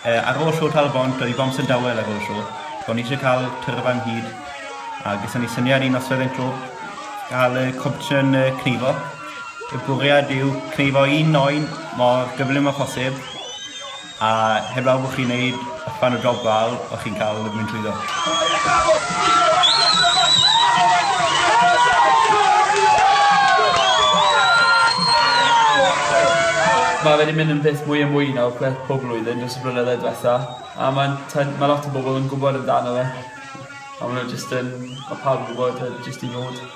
Ar ôl show Tal-y-bont oedd amser dawel ar ôl y show. So o'n i eisiau cael tyrfa ynghyd a ges ni syniad i noswaith ein clwb gael y competition cneifo. Y bwriad yw cneifo un oen mor gyflym â phosib A heblaw bod chi'n neud rhan o job gwael, o'ch chi'n cael mynd trwyddo. Mae fe wedi mynd yn beth mwy a mwy nawr gwerth pob blwyddyn dros y blynydde diwetha a mae'n t'od ma' lot o bobl yn gwbod amdano fe a ma' n'w jyst yn ma' pawb yn gwbod a jyst i ddod.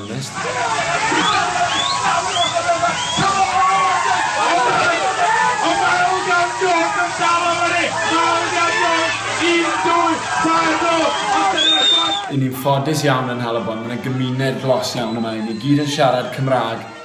onest. Y'n ni'n ffodus iawn yn Nhal-y-bont, mae 'na gymuned glos iawn yma, 'yn ni gyd yn siarad Cymraeg,